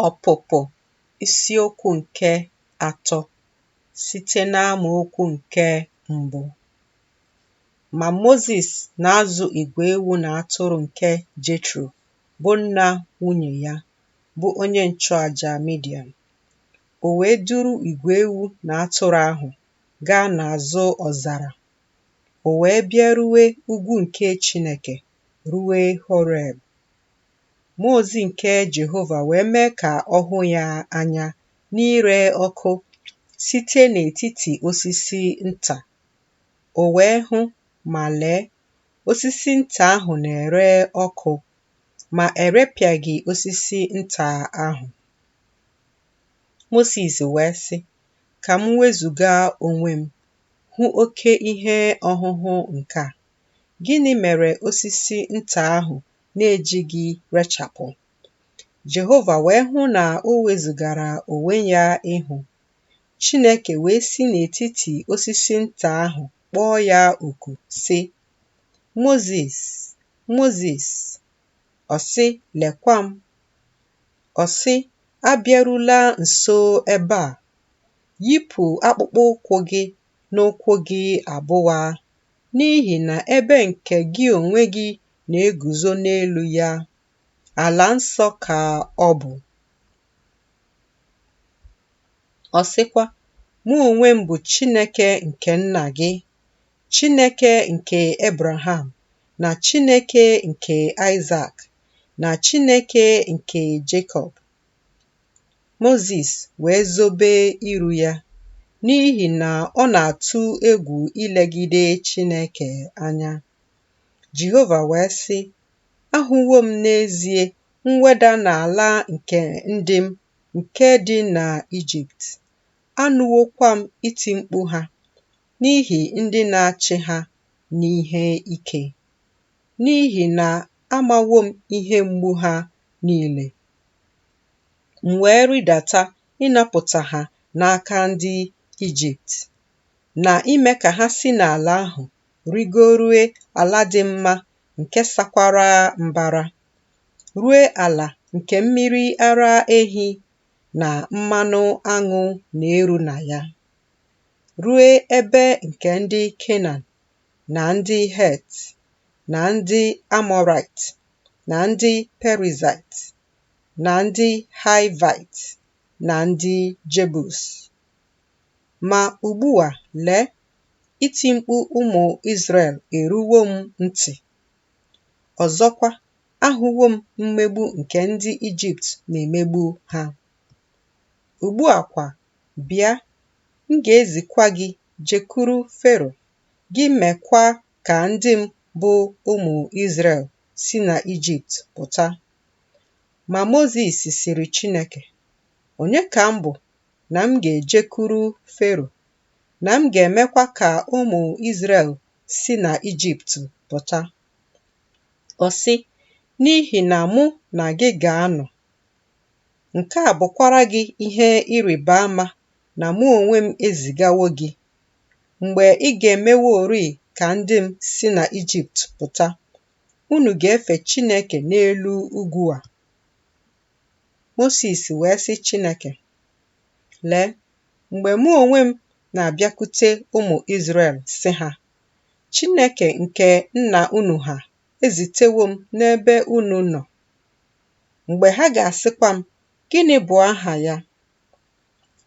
Ọpụpụ isiokwu nke atọ site n'amaokwu nke mbụ. Ma Mozis na-azụ igwe ewu na atụrụ nke Jetro, bụ nna nwunye ya, bụ onye nchụaja Midian. O wee duru igwe ewu na atụrụ ahụ gaa n'azụ ọzara O wee bịarue ugwu nke Chineke, rue Horeb. Mmụọ ozi nke Jehova wee mee ka ọ hụ ya anya n'ire ọkụ site n'etiti osisi nta. O wee hụ, ma lee, osisi nta ahụ na-ere ọkụ, ma erepịaghị osisi nta ahụ. Mozis wee sị, Ka m wezụga onwe m Hụ oke ihe ọhụhụ nke a. Gịnị mere osisi nta ahụ na-ejighị rechapụ? Jehova wee hụ na o wezụgara onwe ya ịhụ. Chineke wee si n'etiti osisi nta ahụ kpọọ ya oku, sị, Mozis, Mozis! Ọ sị, Lekwa m. Ọ sị, Abịarula nso ebe a. Yipụ akpụkpọ ụkwụ gị n'ụkwụ gị abụọ, n'ihi na ebe nke gị onwe gị na-eguzo n'elu ya, ala nsọ ka ọ bụ. Ọ sịkwa, Mụ onwe m bụ Chineke nke nna gị, Chineke nke Ebraham, na Chineke nke Aịsak. na Chineke nke Jekọb. Mozis wee zobe iru ya n'ihi na ọ na-atụ egwu ilegide Chineke anya. Jehova wee sị, Ahụwo m n'ezie mweda n'ala nke ndị m nke dị n'Ijipt, anụwokwa m iti mkpu ha n'ihi ndị na-achị ha n'ihe ike. N'ihi na amawo m ihe mgbu ha niile, m wee rịdata ịnapụta ha n'aka ndị Ijipt, na ime ka ha si n'ala ahụ rigorue ala dị mma nke sakwara mbara, rue ala nke mmiri ara ehi na mmanụ aṅụ na-eru na ya, rue ebe nke ndị Kenan na ndị Het na ndị Amọraịt na ndị Perizaịt na ndị Haịvaịt na ndị Jebus. Ma ugbu a, lee, iti mkpu ụmụ Izrel eruwo m ntị. Ọzọkwa, ahụwo m mmegbu nke ndị Ijipt na-emegbu ha. Ugbu a kwa, bịa, m ga-ezikwa gị jekwuru Fero, gị mekwa ka ndị m bụ ụmụ Izrel si n'Ijipt pụta. Ma Mozis sịrị Chineke, Onye ka m bụ na m ga-ejekwuru Fero, na m ga-emekwa ka ụmụ Izrel si n'Ijipt pụta? Ọ sị, N'ihi na mụ na gị ga-anọ, nke a bụkwara gị ihe ịrịba ama na mụ onwe m ezigawo gị, mgbe ị ga-emeworị ka ndị m si na Ijipt pụta, unu ga-efe Chineke n'elu ugwu a. Mosis wee sị Chineke, Lee, mgbe mụ onwe m na-abịakwute ụmụ Izrel sị ha, Chineke nke nna unu ha ezitewo m n'ebe unu nọ. Mgbe ha ga-asịkwa m, Gịnị bụ aha ya?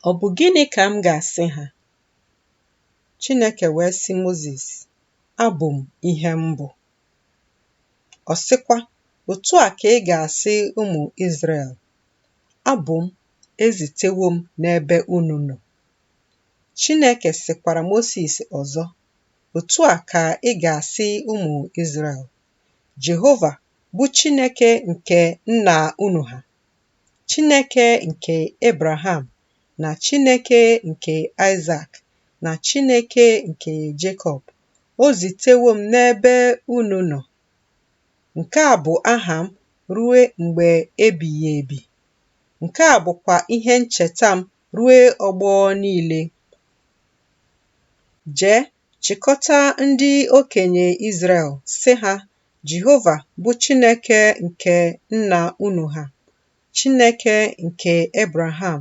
Ọ bụ gịnị ka m ga-asị ha? Chineke wee sị Mozis, Abụ m ihe m bụ. Ọ sịkwa, Otu a ka ị ga-asị ụmụ Izrel, Abụ m, ezitewo m n'ebe unu nọ. Chineke sịkwara Mosis ọzọ, Otu a ka ị ga-asị ụmụ Izrel, Jehova bụ Chineke nke nna unu ha Chineke nke Ebraham na Chineke nke Aịsak na Chineke nke Jekọb, o zitewo m n'ebe unu nọ. Nke a bụ aha m rue mgbe ebighị ebi. Nke a bụkwa ihe ncheta m ruo ọgbọ niile. Jee Chịkọta ndị okenye Izrel, sị ha, Jehova bụ Chineke nke nna unu ha, Chineke nke Ebraham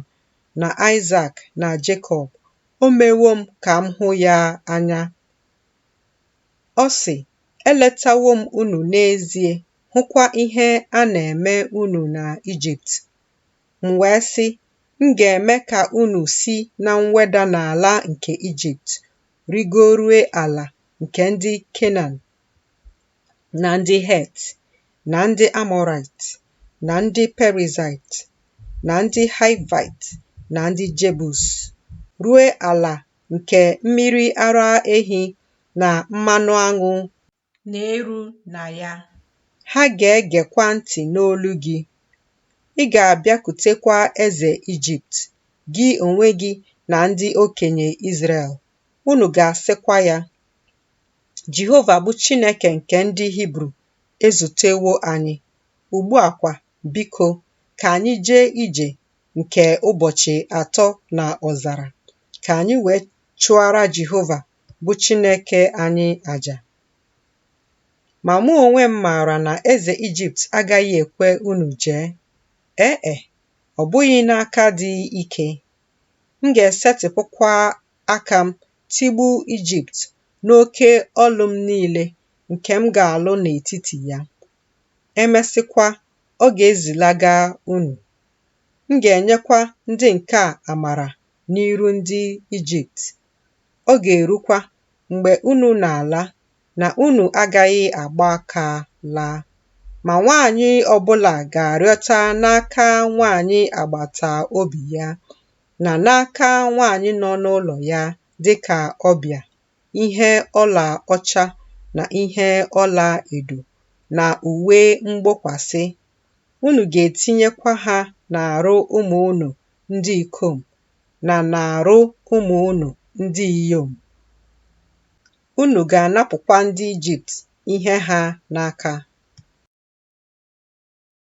na Aịsak na Jekọb, o mewo m ka m hụ ya anya. Ọ sị, Eletawo m unu n'ezie, hụkwa ihe a na-eme unu na Ijipt. M wee sị, M ga-eme ka unu si na mweda n'ala nke Ijipt rigorue ala nke ndị Kenan na ndị Het na ndị Amọraịt na ndị Perizaịt na ndị Haịvaịt na ndị Jebus, rue ala nke mmiri ara ehi na mmanụ aṅụ na-eru na ya. Ha ga-egekwa ntị n'olu gị. Ị ga-abịakutekwa eze Ijipt, gị onwe gị na ndị okenye Izrel. Unu ga-asịkwa ya, Jehova bụ Chineke nke ndị Hibru ezutewo anyị. Ugbu a kwa, biko, ka anyị jee ije nke ụbọchị atọ na ọzara, ka anyị wee chụara Jehova bụ Chineke anyị aja. Ma mụ onwe m maara na eze Ijipt agaghị ekwe unu jee. Ee e, ọ bụghị n'aka dị ike. M ga-esetịpụkwa aka m tigbuo Ijipt n'oke ọlụ m niile nke m ga-alụ n'etiti ya. Emesịkwa, ọ ga-ezilaga unu. M ga-enyekwa ndị nke a amara n'iru ndị Ijipt Ọ ga-erukwa mgbe unu na-ala na unu agaghị agba aka laa, ma nwaanyị ọbụla ga-arịọta n'aka nwaanyị agbata obi ya na n'aka nwaanyị nọ n'ụlọ ya dịka ọbịa ihe ọla ọcha na ihe ọla edo na uwe mgbokwasị unu ga-etinyekwa ha n'arụ ụmụ unu ndị ikom na n'arụ ụmụ unu ndị inyom. Unu ga-anapụkwa ndị Ijipt ihe ha n'aka.